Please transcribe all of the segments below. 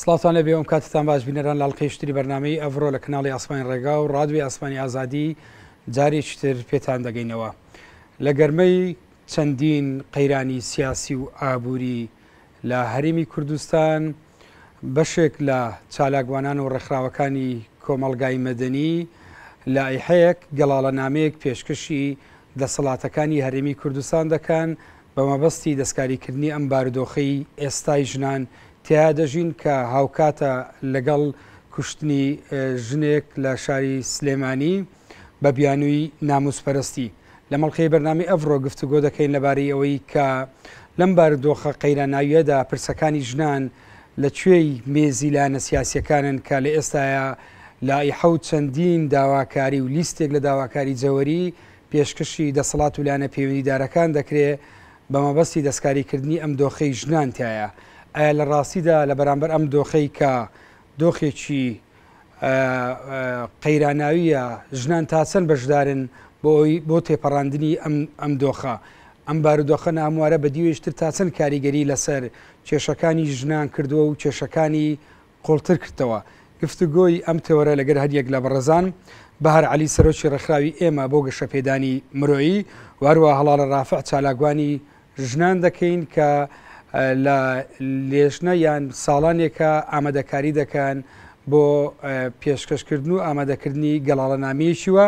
سڵاتان لە بێوم کاتتان باش بینەران لاڵقی شتری بەرنمەی ئەڤرۆ لە کناڵی ئاسمانی ڕێگا و ڕادوی ئاسمانی ئازادی جارێکتر پێتان دەگەینەوە لە گەرمەی چەندین قەیرانی سیاسی و ئابووری لە هەرمی کوردستان بەشێک لە چالاکوانان و ڕێکخراوەکانی کۆمەڵگای مەدەنی لە ئەیحەیەک گەڵاڵە نامەیەک پێشکەشی دەسەڵاتەکانی هەرێمی کوردستان دەکەن بە مەبەستی دەستکاریکردنی ئەم بارودۆخەی ئێستای ژنان تێیا دەژین کە هاوکاتە لەگەڵ کوشتنی ژنێک لە شاری سلێمانی بە بیانووی ناموسپەرستی لە مەڵقەی بەرنامی ئەڤڕۆ گفتوگۆ دەکەین لەبارەی ئەوەی کە لەم بارودۆخە قەیراناویەدا پرسەکانی ژنان لە کوێی مێزی لایەنە سیاسیەکانن کە لە ئێستاە لائیحە و چەندین داواکاری و لیستێک لە داواکاری جەوەری پێشکەشی دەسەڵات و لایەنە پەیوەندیدارەکان دەکرێ بە مەبەستی دەستکاریکردنی ئەم دۆخەی ژنان تیایە، ئایا لە ڕاستیدا لە بەرامبەر ئەم دۆخەی کە دۆخێکی قەیراناوییە ژنان تا چەند بەشدارن بۆ ئەوی بۆ تێپەڕاندنی ئەم ئەم دۆخە؟ ئەم بارودۆخە ناهەموارە بە دیوێشتر تا چەند کاریگەری لەسەر کێشەکانی ژنان کردووە و کێشەکانی قوڵتر کردەوە. گفتوگۆی ئەم تێۆرە لەگەر هەریەک لە بەڕێزان، بەهار عەلی سەرۆکی ڕێکخراوی ئێمە بۆ گەشەپێدانی مرۆیی و هەروەها هەڵاڵە ڕافع چالاکوانی ژنان دەکەین کە لە لێژنە یان ساڵانێکە ئامادەکاری دەکەن بۆ پێشکەشکردن و ئامادەکردنی گەڵاڵەنامەیەکی وە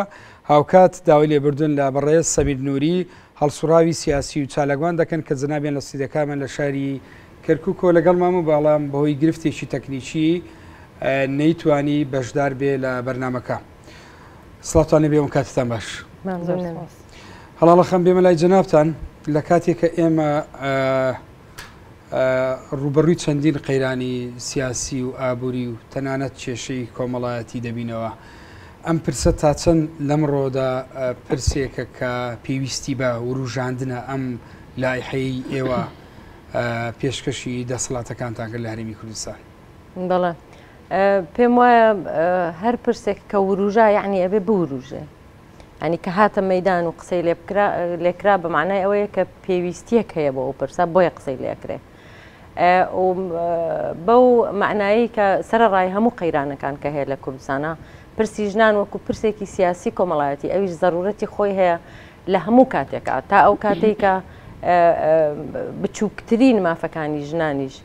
هاوکات داوای لێبوردن لە بەڕێز سەمیر نوری هەڵسوڕاوی سیاسی و چالاکوان دەکەن کە جەنابیان لە سیدەکانمان لە شاری کەرکوکۆ لەگەڵ مامە بەڵام بەهۆی گرفتێکی تەکنیکی نەیتوانی بەشدار بێ لە بەرنامەکە سڵاتان لەبێ ئەم کاتتان باش هەڵاڵە خەم بێمە لای جەنابان لە کاتێکە ئێمە ڕوبەڕووی چەندین قەیرانی سیاسی و ئابووری و تەنانەت کێشەی کۆمەڵایەتی دەبینەوە ئەم پرسە تا چەند لەمڕۆدا پرسێکە کە پێویستی بە وروژاندنە ئەم لایحەیە ئێوە پێشکەشی دەسەڵاتەکانتان کرد لە هەرێمی کوردستان؟ بەڵێ پێم وایە هەر پرسێک کە وروژا یعنی ئەبێ بوروژێ ئەنی کە هاتە مەدان و قسەی لێ لێکرا بە معنای ئەوەیە کە پێویستیەک هەیە بۆ ئەو پرسە بۆیە قسەی لێکرێ بەو معنایی کە سەر ڕای هەموو قەیرانەکان کە هەیە لە کوردستانە پرسی ژنان وەکو پرسێکی سیاسی کۆمەڵایەتی ئەویش زەرورەتی خۆی هەیە لە هەموو کاتێکا تا ئەو کاتەی کە بچووکترین مافەکانی ژنانیش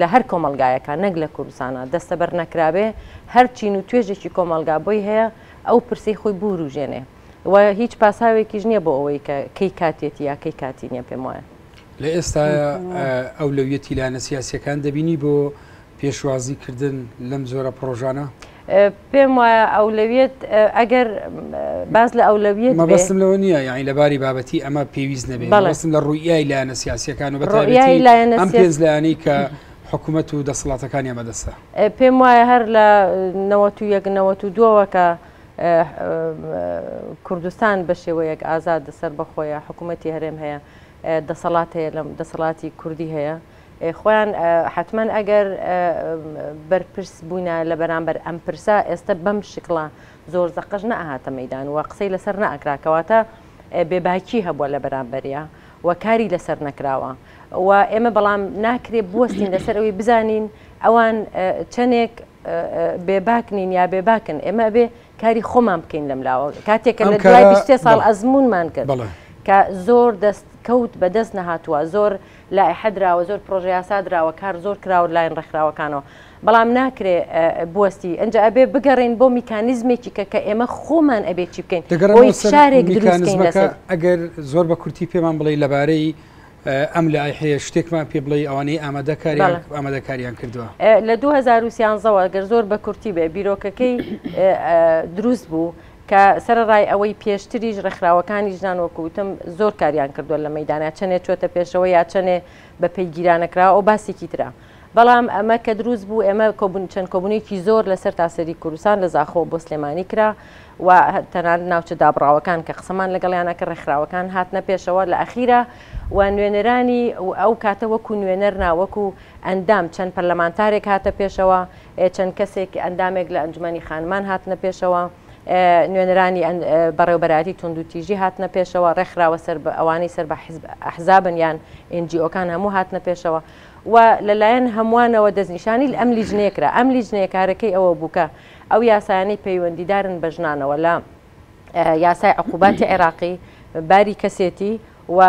لە هەر کۆمەلگایەکە نەک لە کوردستانە دەستەبەر نەکرابێ هەر چین و توێژێکی کۆمەلگا بۆی هەیە ئەو پرسی خۆی بوروژێنێ و هیچ پاساوێکیش نییە بۆ ئەوەی کە کەی کاتێتی یا کەی کاتی نیە پێم وایە لە ئێستاە ئەو لەویەتی لایەنە سیاسەکان دەبینی بۆ پێشوازی کردن لەم جۆرە پرۆژانە؟ پێم وایە ئەولەویەت ئەگەر باس لە ئەولەویەت بێ. مەبەستم لەوە نییە یاعی لە باری بابەتی ئەمە پێویست نەبێت بەڵێ. مەبەستم لە ڕوویای لایەنە سیاسییەکان و بە ڕوئیای تایبەتی لایەنە ئەم سیاسی پێنج لایەنەی کە حکومەت و دەسەڵاتەکانیان بەدەستە. پێم وایە هەر لە نەوەت و یەک نەوەت و دووەوە کە کوردستان بە شێوەیەک ئازادە سەربەخۆیە حکومەتی هەرێم هەیە دەسەڵات هەیە لەم دەسەڵاتی کوردی هەیە، خۆیان حەتمەن ئەگەر بەرپرس بووینا لە بەرامبەر ئەم پرسە ئێستە بەم شکڵە زۆر زەقەش نەئەهاتە مەیدان و قسەی لەسەر نەئەکرا کەواتە بێ باکی هەبووە لە بەرامبەریا و کاری لەسەر نەکراوە و ئێمە بەڵام ناکرێ بوەستین لەسەر ئەوی بزانین ئەوان چەنێک بێ باک نین یا بێ باکن ئێمە ئەبێ کاری خۆمان بکەین لەم لاوە کاتێکە لە دوای بیست ساڵ ئەزمونمان کرد کە زۆر دەست کەوت بەدەست نەهاتووە زۆر لائیحە دراوە زۆر پڕۆژە یاسا دراوە کار زۆر کراوە لایەن ڕێکخراوەکانەوە بەڵام ناکرێ بوەستی ئینجا ئەبێ بگەڕێین بۆ میکانیزمێکی کە کە ئێمە خۆمان ئەبێ چی بکەین دەگەڕێمەوە سەر میکانیزمەکە ئەگەر زۆر بە کورتی پێمان بڵێ لەبارەی ئەم لایحەیە شتێکمان پێ بڵێ ئەوانەی ئامادەکاریان ئامادەکاریان کردووە لە 2013ەوە گەر زۆر بە کورتی بێ بیرۆکەکەی دروست بوو کە سەرەڕای ئەوەی پێشتریش ڕێکخراوەکانی ژنان وەکو وتم زۆر کاریان کردووە لە مەیدانە چەنێ چۆتە پێشەوە یا چەنێ بە پێی گیرانەکراوە ئەو باسێکی ترە بەڵام ئەمە کە دروست بوو ئێمە کۆبن چەند کۆبونێکی زۆر لە سەر تاسەری کوردستان لە زاخۆ بۆ سلێمانی کرا و تەنان ناوچە دابڕاوەکان کە قسەمان لەگەڵیانە کە ڕێکخراوەکان هاتنە پێشەوە لە ئەخیرا و نوێنەرانی ئەو کاتە وەکو نوێنەر ناوەکو ئەندام، چەند پەرلەمانتارێک هاتە پێشەوە، چەند کەسێک ئەندامێک لە ئەنجومەنی خانمان هاتنە پێشەوە، نوێنەرانی بەڕێوەبەرایەتی توندوتیژی هاتنە پێشەوە، ڕێکخراوە سەر بە ئەوانەی سەر بە حیزب ئەحزابن یان ئێنجیئۆکان هەموو هاتنە پێشەوە و لە لایەن هەمووانەوە دەستنیشانی ئەم لیجنەیە کرا، ئەم لیجنەیە کارەکەی ئەوە بوو کە ئەو یاسایانەی پەیوەندیدارن بە ژنانەوە لە. یاسای عقوباتی عێراقی، باری کەسێتی و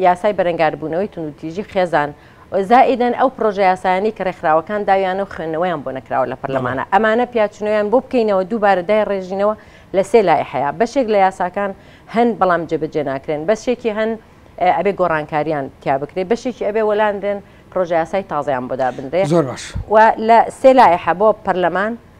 یاسای بەرەنگاربوونەوەی توندوتیژی خێزان، زائیدەن ئەو پڕۆژە یاسایانەی کە ڕێکخراوەکان داویانە و خوێندنەوەیان بۆ نەکراوە لە پەرلەمانە، ئەمانە پیاچوونەوەیان بۆ بکەینەوە دووبارە دایڕێژینەوە لە سێ لایحەیە، بەشێک لە یاساکان هەن بەڵام جێبەجێ ناکرێن، بەشێکی هەن ئەبێ گۆڕانکارییان تیا بکرێت، بەشێکی ئەبێ وەلانرێن پڕۆژەیاسای تازەیان بۆ دابنرێت و لە سێ لایحە بۆ پەرلەمان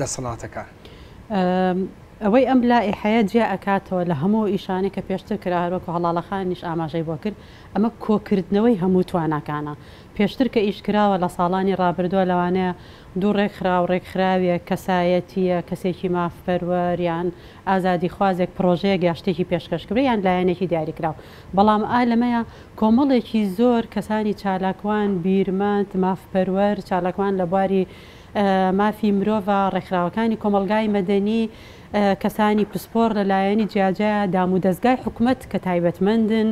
دەسەڵاتەکان. ئەوەی ئەم لائیحەیە جیا ئەکاتەوە لە هەموو ئیشانەی کە پێشتر کرا هەروەکو هەڵاڵەخانیش ئاماژەی بۆ کرد ئەمە کۆکردنەوەی هەموو تواناکانە پێشتر کە ئیش کراوە لە ساڵانی ڕابردووە لەوانەیە دوو ڕێکخرا و ڕێکخراوێک کەسایەتییە کەسێکی مافپەروەر یان ئازادیخوازێک پڕۆژەیەک یا شتێکی پێشکەش کرێ یان لایەنێکی دیاریکراو بەڵام ئا لەمەیە کۆمەڵێکی زۆر کەسانی چالاکوان بیرمەند مافپەروەر چالاکوان لە بواری مافی مرۆڤە، ڕێکخراوەکانی کۆمەڵگای مەدەنی، کەسانی پسپۆڕ لە لایەنی جیاجیا، دام و دەزگای حکومەت کە تایبەتمەندن،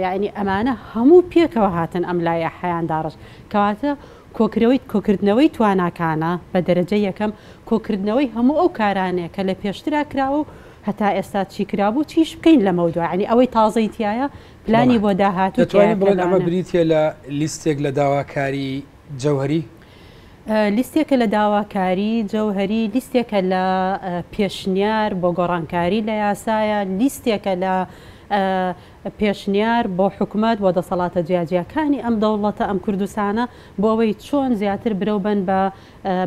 یەعنی ئەمانە هەموو پێکەوە هاتن ئەم لایەحەیان داڕشت. کەواتە کۆکرەوەی کۆکردنەوەی تواناکانە بە دەرەجەی یەکەم، کۆکردنەوەی هەموو ئەو کارانەیە کە لە پێشترا کراوە و هەتا ئێستا چی کرابوو، چیش بکەین لەمەو دوا. یەعنی ئەوەی تازەی تیایە پلانی بۆ داهاتوو تیایە. دەتوانین بڵێن ئەمە بریتیە لە لیستێک لە داواکاری جەوهەری. لیستێکە لە داواکاری جەوهەری لیستێکە لە پێشنیار بۆ گۆڕانکاری لە یاسایە لیستێکە لە پێشنیار بۆ حکومەت بۆ دەسەڵاتە جیاجیاکانی ئەم دەوڵەتە ئەم کوردستانە بۆ ئەوەی چۆن زیاتر برەو بەن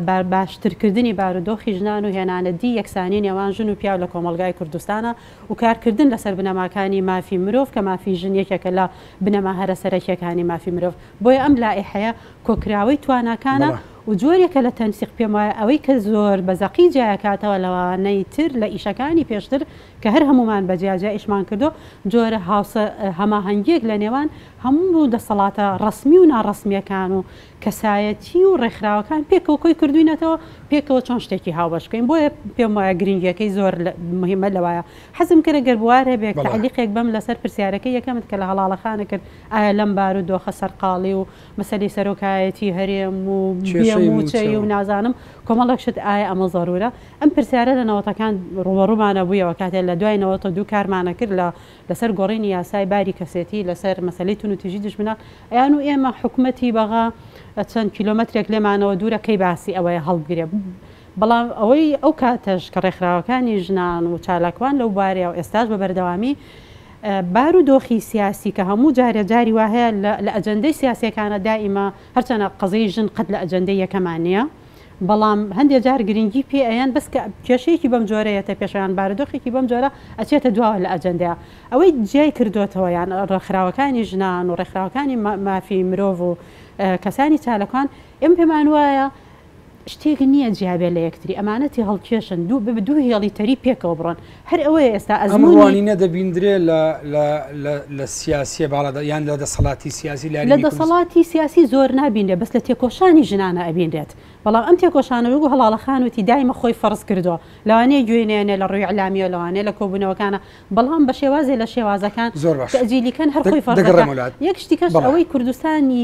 بە باشترکردنی بارودۆخی ژنان و هێنانە دی یەکسانی نێوان ژن و پیاو لە کۆمەڵگای کوردستانە و کارکردن لەسەر بنەماکانی مافی مرۆڤ کە مافی ژن یەکێکە لە بنەما هەرە سەرەکیەکانی مافی مرۆڤ. بۆیە ئەم لائیحەیە کۆکراوەی تواناکانە بەڵێ. و جۆرێکە لە تەنسیق، پێم وایە ئەوەی کە زۆر بە زەقی جیایەکاتەوە لەوانەی تر لە ئیشەکانی پێشتر کە هەر هەموومان بە جیا جیا ئیشمان کردووە، جۆرە هاوسە هەماهەنگیەک لە نێوان هەموو دەسەڵاتە ڕەسمی و ناڕەسمیەکان و کەسایەتی و ڕێکخراوەکان پێکەوە کۆی کردووینەتەوە، پێکەوە چۆن شتێکی هاوبەش بکەین، بۆیە پێم وایە گرنگیەکەی زۆر لە موهیمە لەوایە. حەزم کرد گەر بوارهبێ بەڵێ. تەعلیقێک بەم لەسەر پرسیارەکەی یەکەمت کە لە هەڵاڵەخانە کرد، ئایا لەم بارو دۆخە سەرقاڵی و مەسەلەی سەرۆکایەتی هەرێم و بێ موچەی و نازانم کۆمەڵێک شت ئایا ئەمە زەرورە؟ ئەم پرسیارە لە نەوەتەکان روبەڕومانە بویەوە کاتێ لە دوای نەوەتە دوو کارمانە کرد لە لەسەر گۆڕینی یاسای باری کەسێتی لەسەر مەسەلەی توندوتیژی دژمنان ئەیان و ئێمە حکومەتی بەغا چەند کیلۆمەترێک لێمانەوە دورە کەی باسی ئەوەیە هەڵبگرێ بەڵام ئەوەی ئەو کاتەش کە رێکخراوەکانی ژنان و چالاکوان لەو بارەیەو ئێستاش بە بەردەوامی بارو دۆخی سیاسی کە هەموو جارێ جاری وا هەیە لە ئەجەندەی سیاسیەکانە دائیمە هەرچەنە قەزیەی ژن قەت لە ئەجەندەی یەکەما نیە بەڵام هەندێ جار گرنگی پێ ئەیەن بەس کە کێشەیەکی بەم جۆرە یەتە پێشە یان بارودۆخێکی بەم جۆرە ئەچێتە دواوە لە ئەجەندەیا ئەوەی جیای کردۆتەوە یان ڕێکخراوەکانی ژنان و ڕێکخراوەکانی مافی مرۆڤ و کەسانی چالکان ئێمە پێمان وایە شتێک نیە جیابێ لە یەکتری ئەمانە تێهەڵکێشن دوو بە دوو هێڵی تەری پێکەوە بڕۆن هەر ئەوەیە ئێستا ئەم ئەزموونی ڕوانینە دەبیندرێ لە لە لە لە سیاسیە باڵادا یان لە دەسەڵاتی سیاسی لە لاریونی کوردس دەسەڵاتی سیاسی زۆر نابینرێ بەس لە تێکۆشانی ژنانە ئەبینرێت بەڵام ئەم تێکۆشانە وەکو هەڵاڵە خان وتی دایمە خۆی فەڕز کردوە لەوانەیە گوێی نەیەنێ لە ڕوی ئیلامیەوە لەوانەیە لە کۆبونەوەکانە بەڵام بە شێوازێ لە شێوازەکان زۆر باشە تەئجیلی کەن هەر دە خۆی فەڕز دەگەڕێمەوە دەکا لات یەک شتیکەش بەڵێ ئەوەی کوردستانی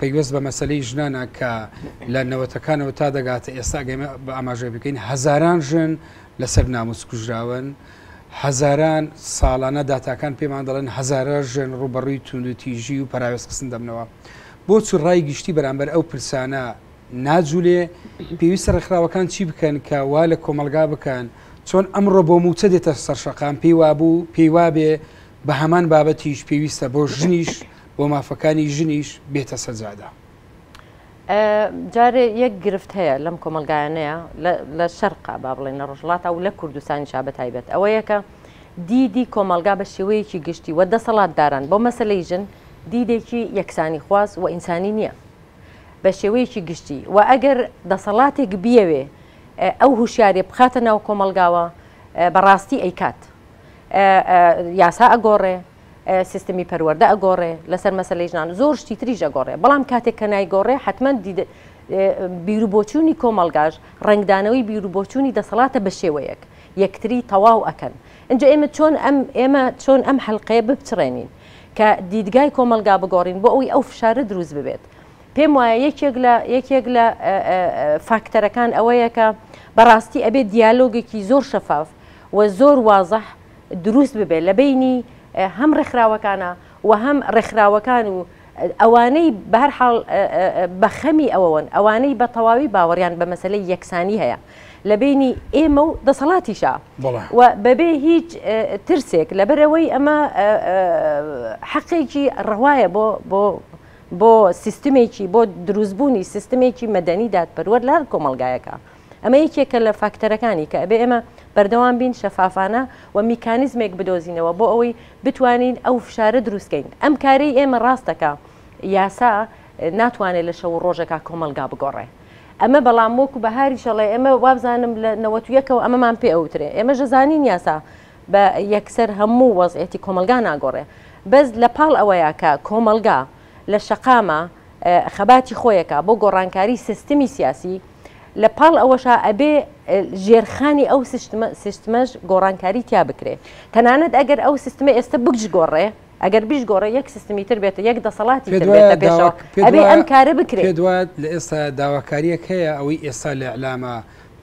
پەیوەست بە مەسەلەی ژنانە کە لە نەوەتەکانەوە تا دەگاتە ئێستا گەمە بە ئاماژەی بکەین هەزاران ژن لەسەر ناموس کوژراون هەزاران ساڵانە داتاکان پێمان دەڵێن هەزارە ژن ڕوبەڕووی توندوتیژی و پراوێز قسن دەبنەوە بۆچ ڕای گشتی بەرامبەر ئەو پرسانە ناجولێ پێویستە ڕێکخراوەکان چی بکەن کە وا لە کۆمەلگا بکەن چۆن ئەمڕۆ بۆ موچە دێتە سەرشەقام پێی وابوو پێی وابێ بە هەمان بابەتیش پێویستە بۆ ژنیش و مافەکانی ژنیش بێتە سەجادە. جارێ یەک گرفت هەیە لەم کۆمەلگایانەیە لە شەرقا با بڵێن لە ڕژڵاتا و لە کوردستانی شا بە تایبەت ئەوە یەکە دیدی کۆمەلگا بە شێوەیەکی گشتی وە دەسەڵات داران بۆ مەسلەی ژن دیدێکی یەکسانی خواز و ئینسانی نییە بە شێوەیەکی گشتی و ئەگەر دەسەڵاتێک بیەوێ ئەو هوشیارێ بخاتە ناو کۆمەلگاوە بەڕاستی ئەیکات یاسا ئەگۆڕێ سیستمی پەروەردە ئەگۆڕێ لەسەر مەسەلەی ژنان زۆر شتی تریش ئەگۆڕێ بەڵام کاتێک کە نایگۆڕێ حتمما بیرو بۆچوونی کۆمەلگاش ڕنگدانەوەی بیرو بۆچوونی دەسەڵاتە بە شێوەیەک یەکتری تەواو ئەکەن ئنجا ئێمە چۆن ئەم ئێمە چۆن ئەم حلقەیە بپچڕێنین کە دیدگای کۆمەلگا بگۆڕین بۆ ئەوی ئەو فشارە دروست ببێت پێم وایە یەکێک لە یەکێک لە فاکتەرەکان ئەوەیە کە بەڕاستی ئەبێت دیالۆگێکی زۆر شەفاف و زۆر وازح دروست ببێت لە بەینی هەم ڕێکخراوەکانە و هەم ڕێکخراوەکان و ئەوانەی بە هەر حاڵ بە خەمی ئەوەوەن ئەوانەی بە تەواوی باوەڕیان بە مەسەلەی یەکسانی هەیە لە بەینی ئێمە و دەسەڵاتیشا و بەبێ هیچ ترسێک لەبەرەوەی ئەمە حەقێکی ڕەوایە بۆ بۆ بۆ سیستمێکی بۆ دروستبوونی سیستمێکی مەدەنی دادپەروەر لە هەر کۆمەلگایەکە. ئەمە یەکێکە لە فاکتەرەکانی کە ئەبێ ئێمە بەردەوام بین شەفافانە و میکانیزمێک بدۆزینەوە بۆ ئەوەی بتوانین ئەو فشارە دروستکەین ئەم کارەی ئێمە ڕاستەکە یاسا ناتوانێت لە شەو ڕۆژەکە کۆمەلگا بگۆڕێ ئەمە بەڵام وەکو بەهاری شەڵێ ئێمە وابزانم لە نەوەتویەکەوە ئەمەمان پێ ئەوترێ ئێمە ژەزانین یاسا بە یەکسەر هەموو وەزعێتی کۆمەلگا ناگۆڕێ بەس لە پاڵ ئەوەیە کە کۆمەلگا لە شەقامە خەباتی خۆیەکە بۆ گۆڕانکاری سیستمی سیاسی لە پاڵ ئەوەشا ئەبێ ژێرخانی ئەو سیستمەش گۆڕانکاری تیا بکرێ تەنانەت ئەگەر ئەو سیستمە ئێستا بکش گۆڕێ ئەگەر بیش گۆڕێ یەک سیستمی تر بێتە یەک دەسەڵاتی ئەبێ ئەم کارە بکرێت دوات لە ئێستا داواکاریەک هەیە ئەوەی ئێستا لە ئەلامە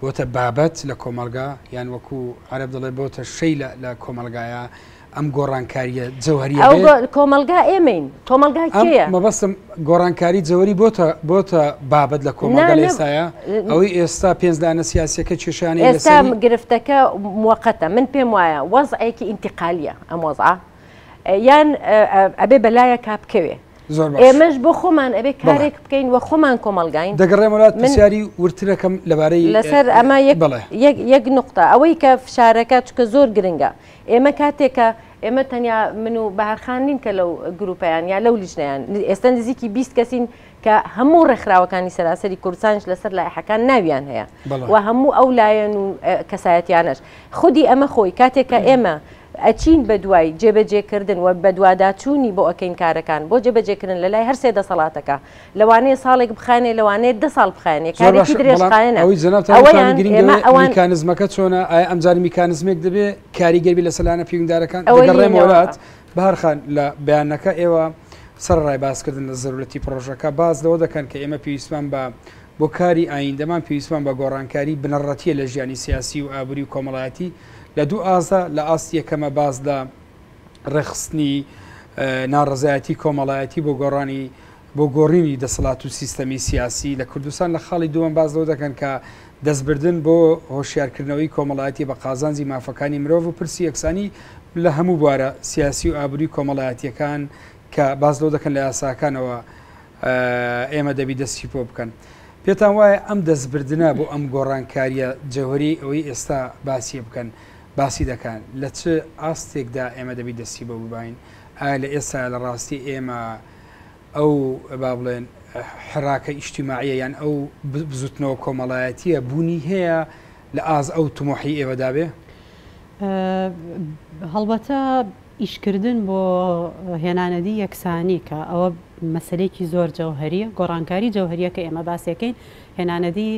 بۆتە بابەت لە کۆمەلگا یان وەکو عرب دەڵێ بۆتە شەی لە کۆمەلگایە ئەم گۆڕانکاریە جەوهری کۆمەلگا ئێمەین کۆمەلگا کێە مەبەستم گۆڕانکاری جەوەری بۆتە بۆتە بابەت لە کۆمەلگا لێسایە ئەوەی ئێستا پێنجدانە سیاسەکە کێشانی ئێستا گرفتەکە موقتە من پێم وایە وەزعێکی ئینتقالیە ئەم وەزعە یان ئەبێ بەلایە کا بکەوێ ئێمەش بۆ خۆمان ئەبێ کارێک بکەین و خۆمان کۆمەلگاین دەگەڕێمەات منسیاری ورترەکەم لەبارەی لەسەر ئەمە یەک نقطە ئەوەی کە فشارەکە چکە زۆر گرنگە ئێمە کاتێک کە ئێمە تەنیا من و بەهار خان نین کە لەو گرووپەیان یا لەو لیژنەیان، ئێستا نزیکی بیست کەسین کە هەموو ڕێکخراوەکانی سەراسەری کوردستانیش لەسەر لایحەکان ناویان هەیە و هەموو ئەو لایەن و کەسایەتیانەش. خودی ئەمە خۆی کاتێک کە ئێمە ئەچین بە دوای جێبەجێکردن و بەدواداچوونی بۆ ئەکەین کارەکان بۆ جێبەجێکردن لەلای هەر سێ دەسەڵاتەکە، لەوانەیە ساڵێک بخایەنێ لەوانەیە دە ساڵ بخایەنێ زۆر کارێکی باشە بەڵام درێژخایەنە ئەوەی جەنابتان ئەوەیان وتانی گرنگە ئێمە ئەوەیە ئەوان- میکانزمەکە چۆنە ئایا ئەمجار میکانزمێک دەبێ کاریگەر بی لەسەر لایەنە پەیوەندیدارەکان ئەوە دەگەڕێمەوە یەینەوە. لات بەهەر خان لە بەیانەکە ئێوە سەرەڕای باسکردن لە زەرورەتی پڕۆژەکە باس لەوە دەکەن کە ئێمە پێویستمان بە بۆ کاری ئایندەمان پێویستمان بە گۆڕانکاری بنەڕەتیە لە ژیانی سیاسی و ئابووری و کۆمەڵایەتی لە دوو ئاستدا لە ئاستی یەکەمە باس لە ڕێکخستنی ناڕەزایەتی کۆمەڵایەتی بۆ گۆڕانی بۆ گۆڕینی دەسەڵات و سیستەمی سیاسی لە کوردستان لە خاڵی دووەم باز لەو دەکەن کە دەستبردن بۆ هۆشیارکردنەوەی کۆمەڵایەتی بە قازانجی مافەکانی مرۆڤ و پرسی یەکسانی لە هەموو بوارە سیاسی و ئابووری کۆمەڵایەتیەکان کە باز لەو دەکەن لە یاساکانەوە ئێمە دەبی دەستی پۆ بکەن. پێتان وایە ئەم دەستبردنە بۆ ئەم گۆڕانکاریە جەوەری ئەوەی ئێستا باسیە بکەن باسی دەکەن لە چ ئاستێکدا ئێمە دەبی دەستی بۆ ببین ئایا لە ئێستا لە ڕاستی ئێمە ئەو با بڵێن حراکە ئیشتیماعە یان ئەو بزوتنەوە کۆمەڵایەتیە بوونی هەیە لە ئاز ئەو تمۆحی ئێوەدابێ هەڵبەتە ئیشکردن بۆ هێنانەدی یەکسانی کە ئەوە مەسلێکی زۆر جەوهریە گۆڕانکاری جەوهریە کە ئێمە باسەکەین هێنانەدی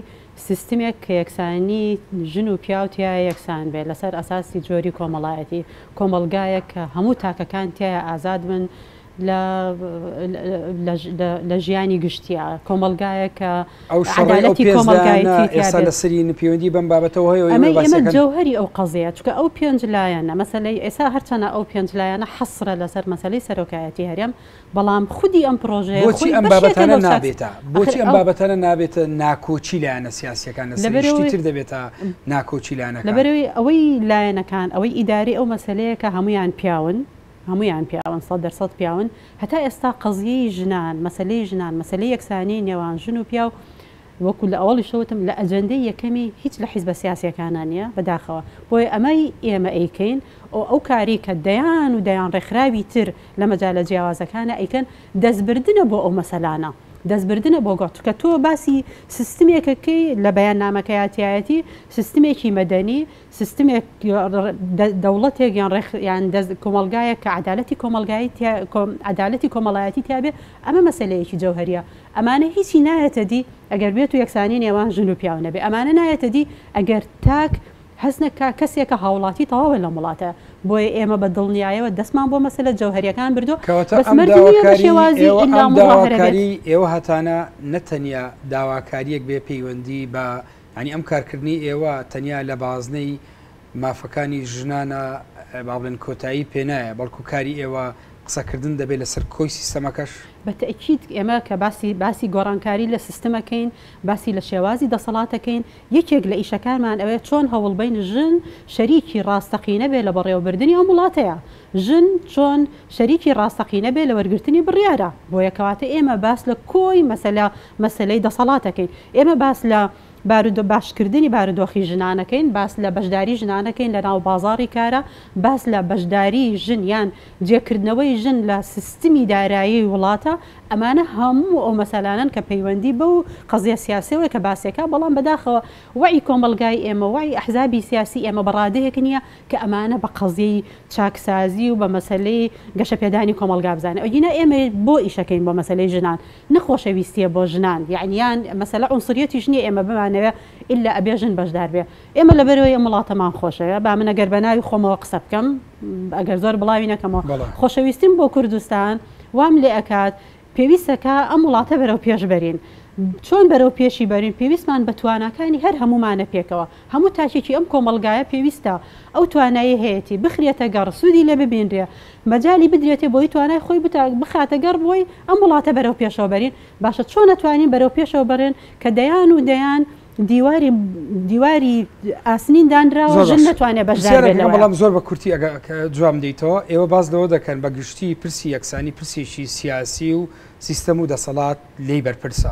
سیستمێک کە یەکسانی ژن و پیاو تیایا یەکسان بێت لەسەر ئەساسی جۆری کۆمەڵایەتی، کۆمەڵگایەک کە هەموو تاکەکان تیایا ئازاد بن لە لە ژیانی گشتیا، کۆمەڵگایەک کە ئەو شەڕەی ئەو عەدالەتی پێنج لایەنە کۆمەڵگایەتی تیا ئێستا بێت. لەسەرین پەیوەندی بەم بابەتەوە هەیە و ئێمە ئەمەی باسی ئێمە دەکەن. جەوهەری ئەو قەزەیە، چونکە ئەو پێنج لایەنە مەسەلەی ئێستا هەرچەنە ئەو پێنج لایەنە حەسرە لەسەر مەسەلەی سەرۆکایەتی هەرێم، بەڵام خودی ئەم پرۆژەیە بۆچی خۆی ئەم بەشێکە بابەتانە لەو چاک- نابێتە بۆچی ئەخر ئەم ئەو- بابەتانە نابێتە ناکۆکی لایەنە سیاسیەکان لەسەر لەبەرەوەی- شتی تر دەبێتە ناکۆکی لایەنەکان لەبەرەوەی ئەوەی لایەنەکان ئەوەی ئیدارەی ئەو مەسەلەیەکە هەموویان پیاون هەموویان پیاون سەد دەر سەد پیاون هەتا ئێستا قەزیەی ژنان مەسەلەی ژنان مەسەلەی یەکسانی نێوان ژن و پیاو وەکو لە ئەوەڵیشە وتم لە ئەجەندەی یەکەمی هیچ لە حیزبە سیاسیەکانا نیە بەداخەوە بۆیە ئەمەی ئێمە ئەیکەین ئەو ئەو کارەی کە دەیان و دەیان ڕێکخراوی تر لە مەجالە جیاوازەکانا ئەیکەن دەست بردنە بۆ ئەو مەسەلانە دەست بردنە بۆ گۆ چونکە تۆ باسی سیستمێکەکەی لە بەیاننامەکەیا تیایەتی سیستمێکی مەدەنی سیستمێک، دەوڵەتێک یان ڕێک یان دەست کۆمەڵگایەک کە عەدالەتی کۆمەڵگایی تیا کۆ عەدالەتی کۆمەڵایەتی تیا بێ ئەمە مەسەلەیەکی جەوهەریە ئەمانە هیچی نایەتە دی ئەگەر بێت و یەکسانی نێوان ژن و پیاو نەبێ ئەمانە نایەتە دی ئەگەر تاک هەست نەکا کەسێکە هاوڵاتی تەواوە لەم وڵاتە بۆیە ئێمە بە دڵنیایەوە دەستمان بۆ مەسەلە جەوهەریەکان بردوە کەواتە بەس ئەم مەرج نیە بە داواکاری شێوازی ئێوە ئیلا ئەم مزاهرە بێت. داواکاری ئێوە هەتانە نەتەنیا داواکاریەک بێ پەیوەندی بە یانی ئەم کارکردنەی ئێوە تەنیا لە بازنەی مافەکانی ژنانە با بڵێن کۆتایی پێ نایە بەڵکو کاری ئێوە قسەکردن دەبێت لەسەر کۆی سیستەمەکەش؟ بە تەئکید ئێمە کە باسی باسی گۆڕانکاری لە سیستم ئەکەین باسی لە شێوازی دەسەڵات ئەکەین یەکێک لە ئیشەکانمان ئەوەیە چۆن هەوڵبەین ژن شەریکی ڕاستەقینە بێت لە بەڕێوەبردنی ئەم وڵاتەیا ژن چۆن شەریکی ڕاستەقینە بێت لە وەرگرتنی بڕیارە بۆیە کەواتە ئێمە باس لە کۆی مەسەلە مەسەلەی دەسەڵاتەکەین. ئێمە باس لە بارودۆ باشکردنی بارودۆخی ژنانەکەین، باس لە بەشداری ژنانەکەین لە ناو بازاڕی کارا، باس لە بەشداری ژن یان جێکردنەوەی ژن لە سیستمی دارایی وڵاتە، ئەمانە هەموو ئەو مەسەلانەن کە پەیوەندی بەو قەزیە سیاسیەوەی کە باسی ئەکا، بەڵام بەداخەوە وەعی کۆمەڵگای ئێمە، وەعی ئەحزابی سیاسی ئێمە بە ڕادەیەک نیە کە ئەمانە بە قەزیەی چاکسازی و بە مەسەلەی گەشەپێدانی کۆمەڵگا بزانێ. ئەگینا ئێمە بۆ ئیشەکەین بۆ مەسەلەی ژنان، نە خۆشەویستیە بۆ ژنان یەعنی یان مەسەلە عونسریەتیش نیە ئێمە بمانەوێ ئیلا ئەبێ ژن بەژدار بێ ئێمە لەبەرئەوەی ئەم وڵاتەمان خۆشەوێ با من ئەگەر بەناوی خۆمەوە قسە بکەم ئەگەر زۆر بڵاوی نەکەمەوە بەڵێ. خۆشەویستیم بۆ کوردستان وام لێ ئەکات پێویستە کە ئەم وڵاتە بەرەو پێش بەرین چۆن بەرەو پێشی بەرین پێویستمان بە تواناکانی هەر هەموومانە پێکەوە هەموو تاکێکی ئەم کۆمەڵگایە پێویستە ئەو توانایەی هەیەتی بخرێتە گەڕ، سوودی لێ ببینرێ، مەجالی بدرێتێ بۆی توانای خۆی بخاتە گەڕ بۆی ئەم وڵاتە بەرەو پێشەوە بەرین، باشە چۆن ئەتوانین بەرەو پێشەوە بەرێن کە دەیان و دەیان دیواری دیواری ئاسنین دانراوە ژن نەتوانێ بەشدار بێت لەوەیە؟ بەڵام زۆر بە کورتی ئەگە جواب بدەیتەوە، ئێوە باس لەوە دەکەن بە گشتی پرسی یەکسانی پرسێکی سیاسی و سیستەم و دەسەڵات لێی بەرپرسە،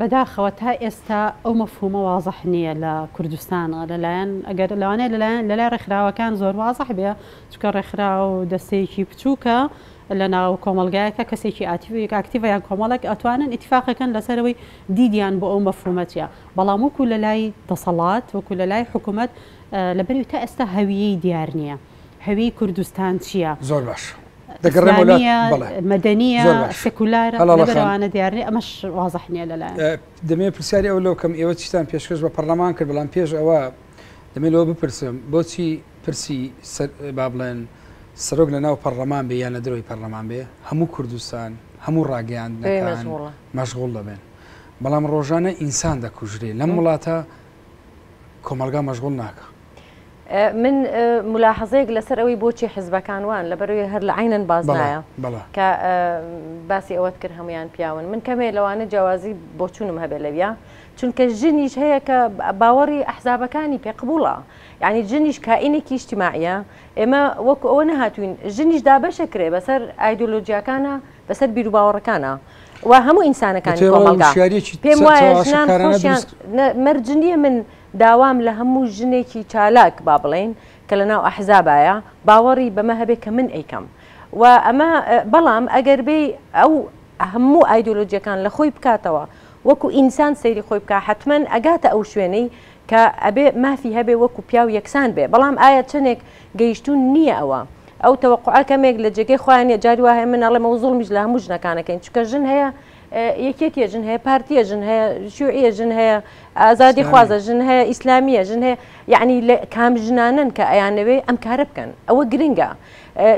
بەداخەوە تا ئێستا ئەو مەفهومە وازح نییە لە کوردستان لەلایەن ئەگەر لەوانەیە لەلایەن لەلای ڕێکخراوەکان زۆر وازح بێ چونکە ڕێکخراو دەستەیەکی بچووکە لە ناو کۆمەلگایەکە کەسێکی ئاتیڤێک ئاکتیڤە یان کۆمەڵێک ئەتوانن ئیتیفاقەکەن لەسەرەوەی دیدیان بۆ ئەو مەفهومە چییە بەڵام وەکو لەلای دەسەڵات وەکو لەلای حکومەت لەبەری تا ئێستا هەویەی دیار نییە. هەوی کوردستان چیە؟ زۆر باش دەگەڕێمەوە لای ئیسلامیە بەڵێ مەدەنیە زۆر باش سکولارە هەڵاڵە لەبەر خان ئەوانە دیار نیە ئەمەش وازح نیە لەلایان ئە دەمەوێ پرسیاری ئەوە لۆ کەم ئێوە چیتان پێشکەش بە پەڕلەمان کرد بەڵام پێش ئەوە دەمەوێ لۆ بپرسم بۆچی پرسی سە با بڵێن سەرۆک لە ناو پەڕلەمان بێ یان لە درۆی پەڕلەمان بێ هەموو کوردستان هەموو پێ ڕاگەیاندنەکان مەشغوڵە مەشغوڵ دەبن بەڵام ڕۆژانە ئینسان دەکوژرێ لەم وڵاتە کۆمەڵگا مەشغوڵ ناکا. من ملاحظەیەک لەسەر ئەوەی بۆچی حزبەکان وان لەبەرەوەی هەر لە عینەن باز نایە کە باسی ئەوەت کرد هەمویان پیاون من کەمێ لەوانە جیاوازی بۆچونم هەبێ لەویا چونکە ژنیش هەیە کە باوەڕی ئەحزابەکانی پێ قبوڵە یعنی جنیش کائینێکی شتیماعە ئێمە وەکو ئەوە نەهاتوین ژنیش دابەشە کرێ بەسەر ئایدۆلۆژیاکانە بەسەر بیروباوەڕەکانە و هەموو ئینسانەکانی کۆمەڵگا پێم وایە ژنان مەرجنیە من داوام لە هەموو ژنێکی چالاک با بڵێین کە لە ناو ئەحزابایە باوەڕی بەمە هەبێ کە من ئەیکەم و ئەمە بەڵام ئەگەر بێی ئەو هەموو ئایدۆلۆجیەکان لە خۆی بکاتەوە وەکو ئینسان سەیری خۆی بکا حەتمەن ئەگاتە ئەو شوێنەی کە ئەبێ مافی هەبێ وەکو پیاو یەکسان بێ بەڵام ئایا چەنێک گەیشتوون نییە ئەوە ئەو تەوەقوعە کەمێک لە جێگەی خۆیان نیە جاری وا هەیە من ئەڵێم ئەو زوڵمیش لە هەموو ژنەکان ئەکەین چونکە ژن هەیە یەکێتیە ژن هەیە پارتیە ژن هەیە شوعە ژن هەیە ئازادی خوازە ژن هەیە ئیسلامیە ژن هەیە یعنی لە کام ژنانن کە ئەیانەوێ ئەم کارە بکەن ئەوە گرنگە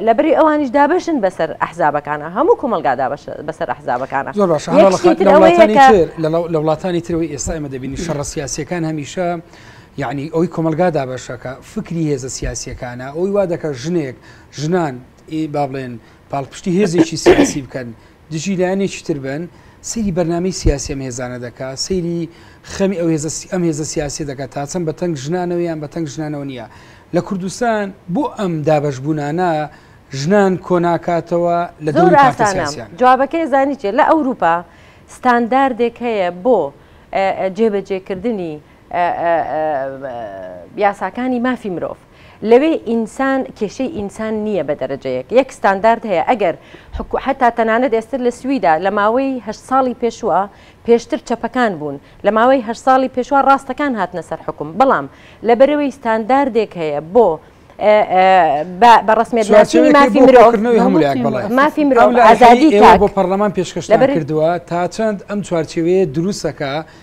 لەبری ئەوانیش دابشن بەسەر ئەحزابەکانە هەموو کۆمەلگا بەسەر ئەحزابەکانە لە وڵاتانی ترەوەی ئێستا ئمە دەبینی شەڕە سیاسەکان هەمیشە یعنی ئەوی کۆمەلگا دابەشەکە فکری هێزە سیاسەکانە ئەوی وا دەکە ژنێک ژنان با بڵێن پاڵپشتی هێزێکی سیاسی بکەن دژی لایەنێکی تر بن، سەیری بەرنامەی سیاسی ئەم هێزانە دەکا، سەیری خەمی ئەو هێزە ئەم هێزە سیاسیە دەکا تاچەند بە تەنگ ژنانەوە یان بە تەنگ ژنانەوە نیە لە کوردستان، بۆ ئەم دابەشبونانە ژنان کۆناکاتەوە لە دەوری پارتە سیاسیانە؟ جوابەکەی زانی چیە؟ لە ئەوروپا ستانداردێک هەیە بۆ جێبەجێکردنی یاساکانی مافی مرۆڤ، لەوێ ئینسان کێشەی ئینسان نییە بە دەرەجەیەک یەک ستاندارد هەیە ئەگەر حکو حەتا تەنانەت ئێستا لە سویدا لە ماوەی هەشت ساڵی پێشوە پێشتر چەپەکان بوون لە ماوەی هەشت ساڵی پێشوە ڕاستەکان هاتنە سەر حوکم بەڵام لەبەرەوەی ستانداردێک هەیە بۆ بە بە ڕسمێت چوارچێوەی ناسی چوارچێوەی مرۆڤ کردنەوەی هەموو لایەک بەڵێ ئەم مافی مرۆڤ ئەم لایەنەی ئازادی ئێوە تاک بۆ پەرلەمان پێشکەشتان لەبەر- کردووە تا چەند ئەم چوارچێوەیە دروستەکە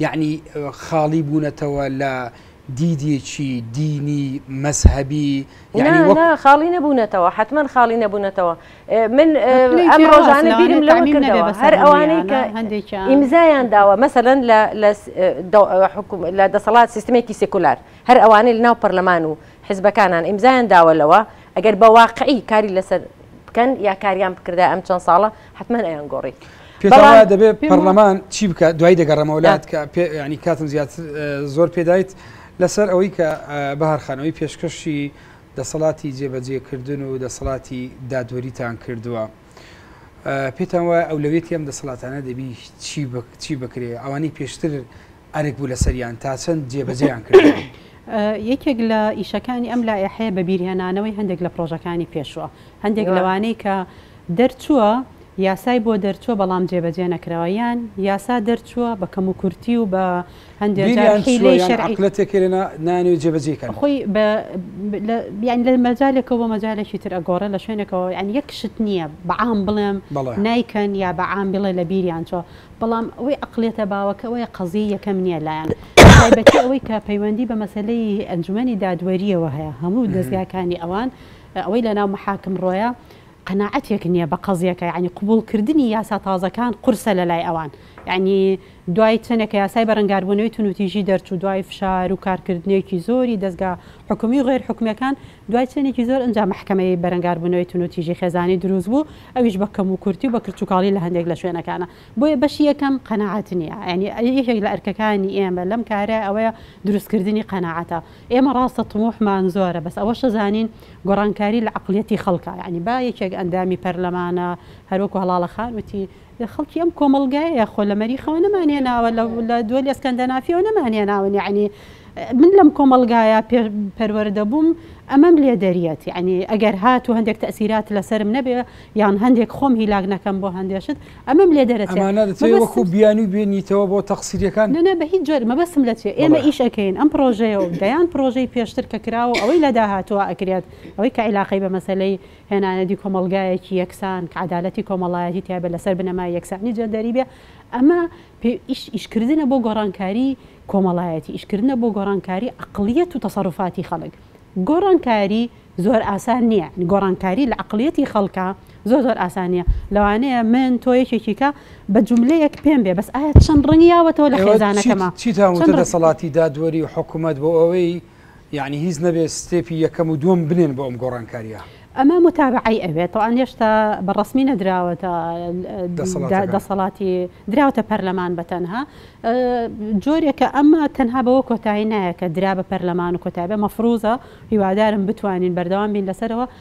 یەعنی خاڵی بوونەتەوە لە دیدێکی دینی مەزهەبی یەعنی وەک. نا نا خاڵی نەبوونەتەوە حەتمەن خاڵی نەبوونەتەوە من پلەی ئەم جیاوازە ڕۆژانە لەوانەیە بیرم لەوە تەعمیم نەبێ کردەوە بەسەر هەر ئەوانەی کە هەموویانا هەندێکیان ئیمزایان داوە مەسەلەن لە لە س دە حکوم لە دەسەڵات سیستمێکی سیکولار هەر ئەوانەی لەناو پەرلەمان و حزبەکانان ئیمزایان داوە لەوە ئەگەر بە واقعی کاری لەسەر بکەن یا کاریان بکردایە ئەم چەند ساڵە حەتمەن ئەیان گۆڕی. پێتان وایە دەبێت پەرلەمان چی بکات دوای دەگەڕێمەوە لات کە ینی کاتم زیاتر زۆر پێدایت لەسەر ئەوەی کە بەهارخانەوەی پێشکەشی دەسەڵاتی جێبەجێکردن و دەسەڵاتی دادوەریتان کردووە. پێتان وایە ئەولەوێتی ئەم دەسەڵاتانە دەبی چی بکرێ ئەوانەی پێشتر ئەرک بوو لەسەریان تا چەند جێبەجێیان کردووە؟ یەکێک لە ئیشەکانی ئەم لایحەیە بەبیرهێنانەوەی هەندێک لە پرۆژەکانی پێشووە هەندێک لەوانەی کە دەرچووە یاسای بۆ دەرچووە بەڵام جێبەجێ نەکراوە یان یاسا دەرچووە بە کەم و کورتی و بە هەندێک شەرعیلێتێکێنە نانوێت جێبەجێکەن خۆی بیان لە مەجالێکەوە بە مەجالێکی تر ئەگۆڕە لە شوێنێکەوە یان یەک شت نییە بەعام بڵێم نایکەن یا بەعام بڵێ لە بیریان چۆ بەڵام ئەوەی عەقڵیەتە باوەکە ئەوەیە قەزیەی یەکەم نیە لایان بەتایبەتی ئەوەی کە پەیوەندی بە مەسەلەی ئەنجومەنی دادوەریەوە هەیە هەموو دەزگاکانی ئەوان ئەوەی لەناو مەحاکم ڕۆیە قەناعەتێک نیە بە قەزیەکە یعنی قبوڵکردنی یاسا تازەکان قورسە لەلای ئەوان یعنی دوای چەندێکە یاسای بەرەنگاربوونەوەی تونوتیژی دەرچوو دوای فشار و کارکردنێکی زۆری دەستگا حکومی و غێر حکومیەکان دوای چەندێکی زۆر ئەنجا مەحکەمەی بەرەنگاربوونەوەی تونوتیژی خێزانی دروست بوو ئەویش بە کەم و کورتی و بە کرچوکاڵی لە هەندێک لە شوێنەکانا. بۆیە بەشی یەکەم قەناعەت نییە. یانی یەکێک لە ئەرکەکانی ئێمە لەم کارە ئەوەیە دروست کردنی قەناعەتە. ئێمە ڕاستە طموحمان زۆرە بەس ئەوەشە زانین گۆڕانکاری لە عەقڵیەتی خەڵکە. یانی با یەکێک ئەندامی پەرلەمانە هەر وەکو هەڵاڵە خان وتی لە خەڵکی ئەم کۆمەڵگایە خۆ لە مەریخەوە نەمانهێناوە لە دوەلی ئەسکەندەنافیەوە نەمانهێناون یانی من لەم کۆمەڵگایە پێ پەروەردە بووم ئەمەم لێ دەریەت یعنی ئەگەر هات و هەندێک تەسیرات لەسرم نەبێ یان هەندێک خۆم هیلاک نەکەم بۆ هەندێشت ئەمەم لێ دەرەوەکو بیانی بێنیتەوە بۆ تەقسیریەکان نە بە هیچ جۆر مەبەسم لە چێ ئێمە ئیش ئەەکەین ئەم پرۆژەیە و دەیان پرۆژەی پێشتر کە کراوە ئەوەی لە داهاتوە ئەکرێت ئەوەی کە عیلاقی بە مەسلەی هێنانەدی کۆمەلگایەکی یەکسان کە عدالەتی کۆمەڵایەتی تیابە لەسەر بنەمای یەکسانی جەندەری بێ ئەمە پێویست ئیشکردنە بۆ گۆڕانکاری کۆمەڵایەتی، ئیشکردنە بۆ گۆڕانکاری عەقڵیەت و تەسەروفاتی خەڵک. گۆڕانکاری زۆر ئاسان نییە، یانی گۆڕانکاری لە عەقڵیەتی خەڵکا زۆر زۆر ئاسان نییە. لەوانەیە من، تۆ یەکێکی کە بە جوملەیەک پێم بێ بەس ئایا چەند ڕەنگی یاوەتەوە لە خێزانەکەما؟ چیتان وتە دەسەڵاتی دادوەری و حکومەت بۆ ئەوەی یەعنی هیچ نەبێ ستێپی یەکەم و دووەم بنێن بۆ ئەم گۆڕانکاریە؟ ئەمە موتابەعەی ئەوێت تەوان هێشتا بە ڕەسمی نەدراوەتە دەسەڵاتی دراوتە پەرلەمان بە تەنها جۆرێکە ئەمە تەنها بەوە کۆتایی نایە کە درا بە پەرلەمان و کۆتابێ مەفروزە هیوادارم بتوانین بەردەوام بین لەسەرەوە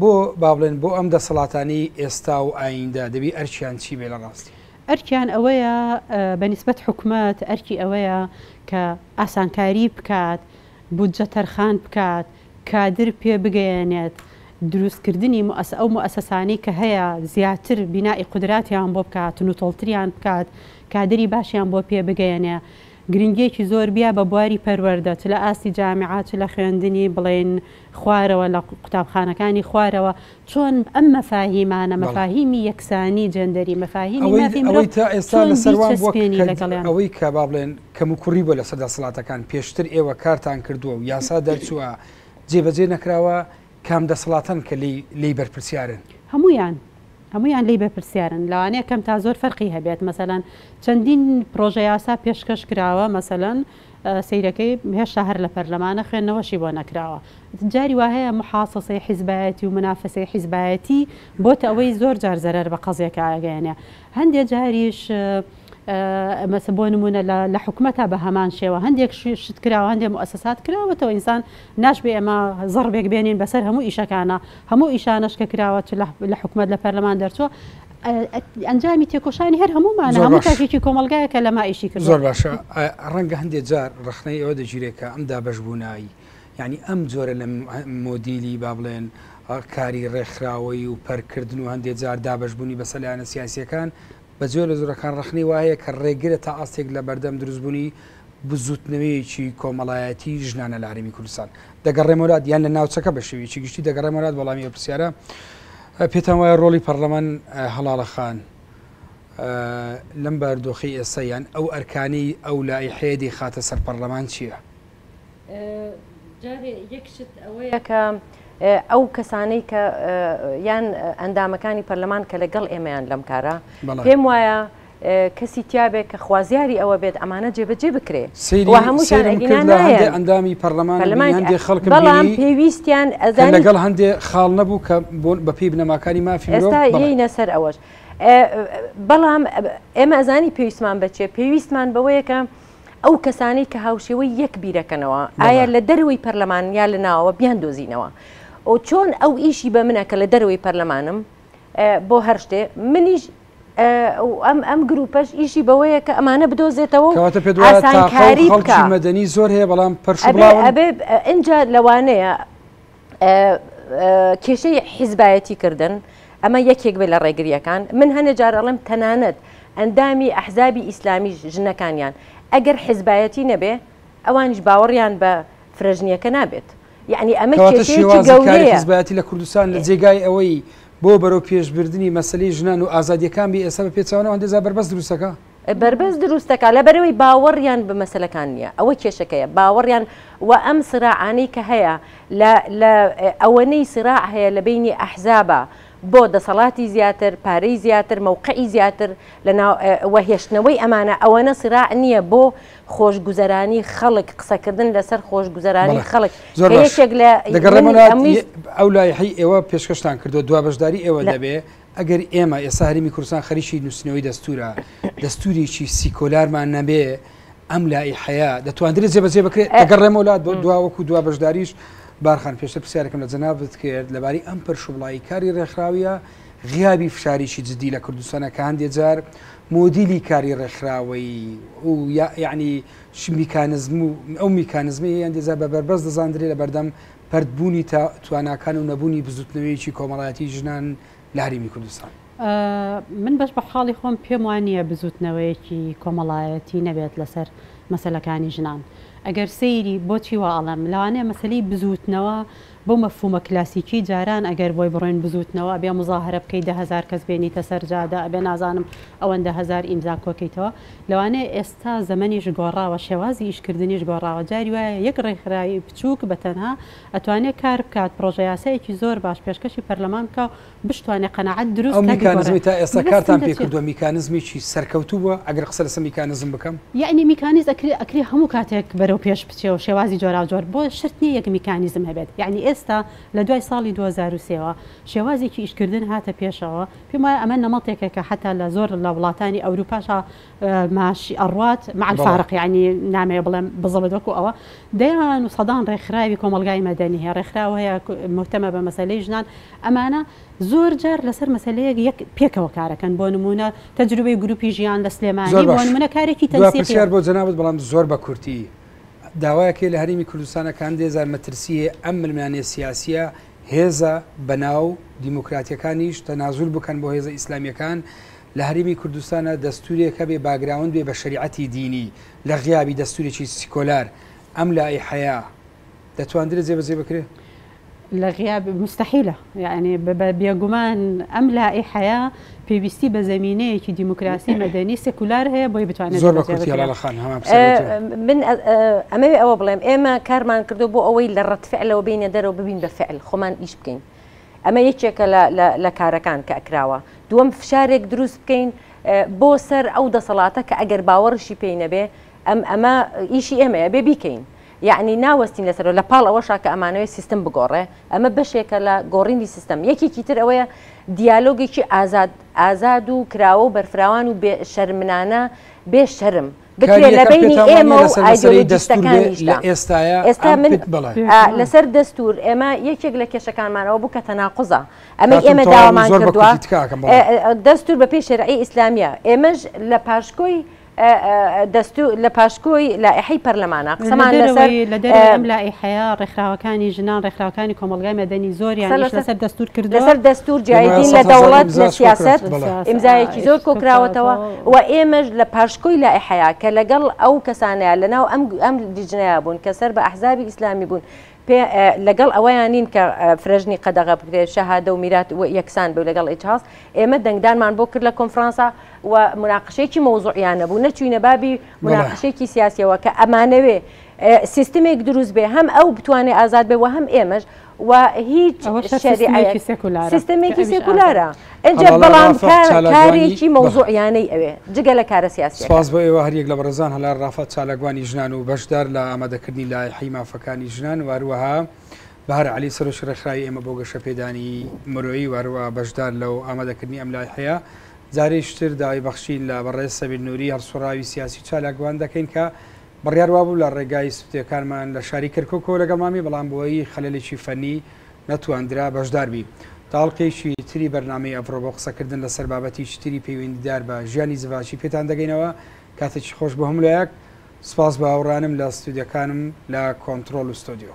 بۆ با بڵێن بۆ ئەم دەسەڵاتانەی ئێستا و ئاییندە دەبی ئەرکیان چی بێ لە ڕاستی؟ ئەرکیان ئەوەیە بە نیسبەت حکومەت ئەرکی ئەوەیە کە ئاسانکاری بکات، بودجە تەرخان بکات، کادر پێ بگەیەنێت، دروست کردنی موئەسە ئەو موئەسەسانەی کە هەیە زیاتر بینائی قودراتیان بۆ بکات، نوتڵتریان بکات، کادری باشیان بۆ پێ بگەیەنێ. گرنگیەکی زۆر بیا بە بواری پەروەردە چ لە ئاستی جامعە چ لە خوێندنی بڵێن خوارەوە لە قوتابخانەکانی خوارەوە چۆن ئەم مەفاهیمانە مەفاهیمی یەکسانی جێندەری مەفاهیمی مافی مرۆڤ چۆن بیچەسپێنی لەگەڵیان. ئەوەی کە با بڵێن کەموکوڕی بووە لەسەر دەسەڵاتەکان پێشتر ئێوە کارتان کردووە و یاسا دەرچووە جێبەجێ نەکراوە کام دەسەڵاتەن کە لێی بەرپرسیارن؟ هەموویان هەموویان لێی بەرپرسیارن لەوانەیە کەم تا زۆر فەرقی هەبێت مەسەلەن چەندین پرۆژە یاسا پێشکەش کراوە مەسەلەن سەیرەکەی هێشتا هەر لە پەرلەمانە خوێندنەوەشی بۆ نەکراوە جاری وا هەیە محاسەسەی حیزبایەتی و منافەسەی حیزبایەتی بۆتە ئەوەی زۆر جار زەرەر بە قەزیەکە ئەگەیەنێ هەندێ جاریش مەسە بۆ نمونە لە حکومەتا بە هەمان شێوە هەندێک شت کراوە هەندێک موسسات کراوەتەوە ئینسان ناشبێ ئێمە زەڕبێک بێنین بەسەر هەموو ئیشەکانە هەموو ئیشانەش کە کراوە لە حکومەت لە پەرلەمان دەرچووە ئەنجامی تێکۆشانی هەر هەمومانە هەموو تاکێکی کۆمەلگایە کە لەما ئیشی کرد زۆر باشە ڕەنگە هەندێک جار ڕخنەی ئەوە دەگیرێکە ئەم دابش بوونایی ینی ئەم جۆرە لە مۆدیلی با بڵێن کاری ڕێکخراوەی و پەرکردن و هەندێک جار دابشبوونی بە سەلایەنە سیاسیەکان بە جۆرە زۆرەکان ڕخنەی وایە کە ڕێگرە تا ئاستێک لە بەردەم دروستبوونی بزووتنەوەیەکی کۆمەڵایەتی ژنانە لە هەرێمی کوردستان دەگەڕێمەولات یان لە ناوچەکە بە شێوەیەکی گشتی دەگەڕێمەولات وەڵامی ئەو پرسیارە پێتان وایە ڕۆڵی پەرلەمان هەڵاڵەخان لەم باردۆخی ئێستا یان ئەو ئەرکانەی ئەو لای حێدی خاتە سەر پەرلەمان چییە؟ جارێ یەک شت ئەوەیە کە ئەو کەسانەی کە یان ئەندامەکانی پەرلەمان کە لەگەڵ ئێمەیان لەم کارە پێم وایە کەسی تیابێ کە خوازیاری ئەوە بێت ئەمانە جێبەجێ بکرێ و هەمووشان ئەگینا نایەن ئەندامی پەرلەمانەکان هەندێ خەڵک بەڵام پێویستیان ئەزانی لەگەڵ هەندێ خاڵ نەبوو کە بەپێی بنەماکانی مافی مرۆڤ ئێستا یەینە سەر ئەوەش بەڵام ئێمە ئەزانی پێویستمان بەچێ پێویستمان بەوەیە کە ئەو کەسانەی کە هاوشێوەی یەک بیرەکەنەوە ئایا لە دەروی پەرلەمان یا لە ناوەوە بیان دۆزینەوە ئەو چۆن ئەو ئیشی بە منە کە لە دەروی پەرلەمانم بۆ هەر شتێ منیش ئەم ئەم گروپەش ئیشی بەوەیە کە ئەمانە بدۆزێتەوە کەواتە پێ ئاسانکاری بکە مەدەنی زۆر هەیە بەڵام پرش ئەبێ لەوانەیە کێشەی حیزبایەتی کردن ئەمە یەکێک بێ لە ڕێگریەکان من هەنێ جارەڵم تەنانەت ئەندامی ئەحزابی ئیسلامی ژنەکانیان ئەگەر حیزبایەتی نەبێ ئەوانش باوەڕیان بە فرەژنیەکە نابێت یەعنی ئەمە کێشەیەکی گەورەیە. کەواتە شێوازی کاری حیزبایەتی لە کوردستان لە جێگای ئەوەی بۆ بەرەو پێش بردنی مەسەلەی ژنان و ئازادییەکان بێ ئێستا بە پێچەوانەوە هەندێ جار بەربەست دروست دەکا. بەربەست دروست دەکا لەبەرئەوەی باوەڕیان بە مەسەلەکان نییە ئەوە کێشەکەیە باوەڕیان و ئەم سراعانەی کە هەیە لە لە ئەوەنەی سراع هەیە لە بەینی ئەحزابا بۆ دەسەڵاتی زیاتر، پارەی زیاتر، مەوقعی زیاتر لە ناو و هێشتنەوەی ئەمانە، ئەوەنە سیراع نییە بۆ خۆشگوزەرانی خەڵک، قسەکردن لەسەر خۆشگوزەرانی خەڵک کە یەکێک لە ئەمویست. ئەو لایحەی ئێوە پێشکەشتان کردوە دوا بەشداری ئێوە دەبێ، ئەگەر ئێمە ئێستا هەرێمی کوردستان خەریکی نووسینەوەی دەستوورە، دەستوورێکی سیکۆلارمان نەبێ، ئەم لائیحەیە دەتواندرێت جێبەجێ بکرێت ئەگەڕێمەوە لا دوا وەکو دوا بەشداریش بارخان پێشتر پرسیارەکەم لە جەنابت کرد لەباری ئەم پەرشوبڵایی کاری ڕێکخراویە غیابی فشاریی جددی لە کوردستانە کە هەندێ جار مۆدیلی کاری ڕێکخراوەی و یعنی میکانزم و ئەو میکانزمی هەندێجار بە بەربەست دەزاندرێ لە بەردەم پردبوونی تواناکان و نەبوونی بزوتنەوەیەکی کۆمەڵایەتی ژنان لە هەرمی کوردستان. من بەش بەحاڵی خۆم پێم وا نییە بزووتنەوەیەکی کۆمەڵایەتی نەبێت لەسەر مەسەلەکانی ژنان ئەگەر سەیری بۆچی وا ئەڵێم لەوانەیە مەسەلی بزووتنەوە بەو مەفهومە کلاسیکی جاران ئەگەر بۆی بڕۆین بزووتنەوە ئەبێ موزاهەرە بکەی دە هەزار کەس بێنیتە سەر جادە ئەبێ نازانم ئەوەندە هەزار ئیمزا کۆکەیتەوە لەوانەیە ئێستا زەمەنیش گۆڕاوە شێوازی ئیشکردنیش گۆڕاوە جاری وایە یەک ڕێکخراوی بچووک بەتەنها ئەتوانێ کار بکات پڕۆژە یاسایەکی زۆر باش پێشکەشی پەرلەمان بکا بشتوانێ قەناعەت دروست ئەو میکانزمی تا ئێستا کارتان پێ کردووە میکانزمی چی سەرکەوتوو بووە ئەگەر قسە لەسە میکانزم بکەم یعنی میکانیز ئەکری ئەکری هەموو کاتێک بەرەو پێش بچێ و شێوازی جۆراوجۆر بۆ شرت نییە یەک میکانیزم هەبێت یعنی ئێستا لە دوای ساڵی دوو هەزار و سێ وە شێوازێکی ئیشکردن هاتە پێشەوە پێم وایە ئەمە نەمەتێکە کە حەتا لە زۆر لە وڵاتانی ئەوروپاشا ماشی ئەڕات مع الفارق یانی نامەوێ بڵێم بزڵت وەکو ئەوە دەیان و سەدان ڕێکخراوی کۆمەڵگای مەدەنی هەیە ڕێکخراو هەیە مهتەمە بە مەسەلەی ژنان ئەمانە زۆر جار لەسەر مەسەلەیەک یەک پێکەوە کارەکەن بۆ نمونە تەجروبەی گروپی ژیان لە سلێمانی بۆ نمونە کارێکی تەنسیقیان بۆ جەنابت بەڵام زۆر بە کورتی داوایەکەی لە هەرێمی کوردستانەکان دێزار مەترسیە ئەم ململانێ سیاسیە هێزە بەناو دیموکراتیەکانیش تەنازول بکەن بۆ هێزە ئیسلامیەکان لە هەرێمی کوردستانا دەستورێک هەبێ باگراوند بێ بە شەریعەتی دینی لە غیابی دەستورێکی سیکۆلار ئەم لائیحەیە دەتواندرێ جێبەجێ بکرێ؟ لە غیاب مستحیلە یانی بێگومان ئەم لائیحەیە پێویستی بە زەمینەیەکی دیموکراسی مەدەنی سکولار هەیە بۆی بتوانێت زۆر بە کورتی هەڵاڵە خان هەمان پرسیارەکەم. من ئەمەوێ ئەوە بڵێم ئێمە کارمان کردو بۆ ئەوەی لە ڕەتفعلەوە بینە دەرەوە ببین بە فعل خۆمان ئیش بکەین ئەمە یەکێکە لە کارەکان کە ئەکراوە. دووەم فشارێک دروست بکەین بۆ سەر ئەو دەسەڵاتە کە ئەگەر باوەڕشی پێی نەبێ ئەم ئەمە ئیشی ئێمەیە بێ بیکەین. یعنی ناوەستین لەسەرەوە لە پاڵ ئەوەشا کە ئەمانەوەی سیستم بگۆڕێ ئەمە بەشێکە لە گۆڕینی سیستم یەکێکی تر ئەوەیە دیالۆگێکی ئازاد ئازاد و کراوە و بەرفراوان و بێ شەرمنانە بێ شەرم بکرێت لە بینی ئێمە و ئایدۆلۆژیستەکانیشدا ئێستا من لەسەر دەستور ئێمە یەکێک لە کێشەکانمانەوە بوو کە تەناقزە ئەمە ئێمە داوامان کردووە دەستور بە پێی شەرعی ئیسلامیە ئێمەش لە پاشکۆی لە پاشکۆی لائحی پەرلەمانە قسەمان لەسەر لەم لائحەیە ڕێکخراوەکانی ژنان ڕێکخراوەکانی کۆمەلگای مەدەنی زۆریان لەسەر دەستور کرد لەسەر دەستور جیایدین لە دەوڵەت لە سیاست ئیمزایەکی زۆر کۆکراوەتەوە و ئێمەش لە پاشکۆی لائیحەیا کە لەگەڵ ئەو کەسانەیا لەناو ئەم ئەم لیجنەیا بوون کە سەر بە ئەحزابی ئیسلامی بوون پێ لەگەڵ ئەوەیا نین کە فرەژنی قەدەغە بکرێ شەهادە و میرات و یەکسان بێ لەگەڵ ئیجهاض ئێمە دەنگدانمان بۆ کرد لە کۆنفرانسا و موناقشەیەکی مەوزوعیانە بوو نەچووینە بابی بەڵێ موناقشەیەکی سیاسیەوە کە ئەمانەوێ سیستمێک دروست بێ هەم ئەو بتوانێ ئازاد بێ و هەم ئێمەش و هیچ شەریعەیەک سیستەمێکی سێکولارە ئەجا بەڵام کارێکی مەوزوعیانەی ئەوێ جگە لە کارە سیاسی سپاس بۆ ئێوە هەریەک لە بەڕێزان هەلار ڕافات چالاکوانی ژنان و بەشدار لە ئامادەکردنی لایحی مافەکانی ژنان واروەها بەهر علی سەرۆکی ڕێکخراوی ئێمە بۆ گەشە پێدانی مرۆیی واروە بەشدار لەو ئامادەکردنی ئەم لای هەیە جارێشتر داوای بەخشین لە بەڕێز سەبیل نووری هەڵسوڕاوی سیاسی چالاکوان دەکەین کە بڕیار وابوو لە ڕێگای سوتییەکانمان لە شاری کەرکوکەوە لەگەڵمان بی، بەڵام بەهۆی خەلەلێکی فەنی نەتواندرا بەشدار بی. تاڵقێکی تری بەرنامەی ئەڤڕۆ بۆ قسەکردن لەسەر بابەتێکی تری پەیوەندیدار بە ژیانی زڤاکی پێتان دەگەینەوە. کاتێکی خۆش بۆ هەموو لایەک. سوپاس بە هاوڕێانم لە ستۆدیۆکانم لە کۆنتڕۆل و ستۆدیۆ.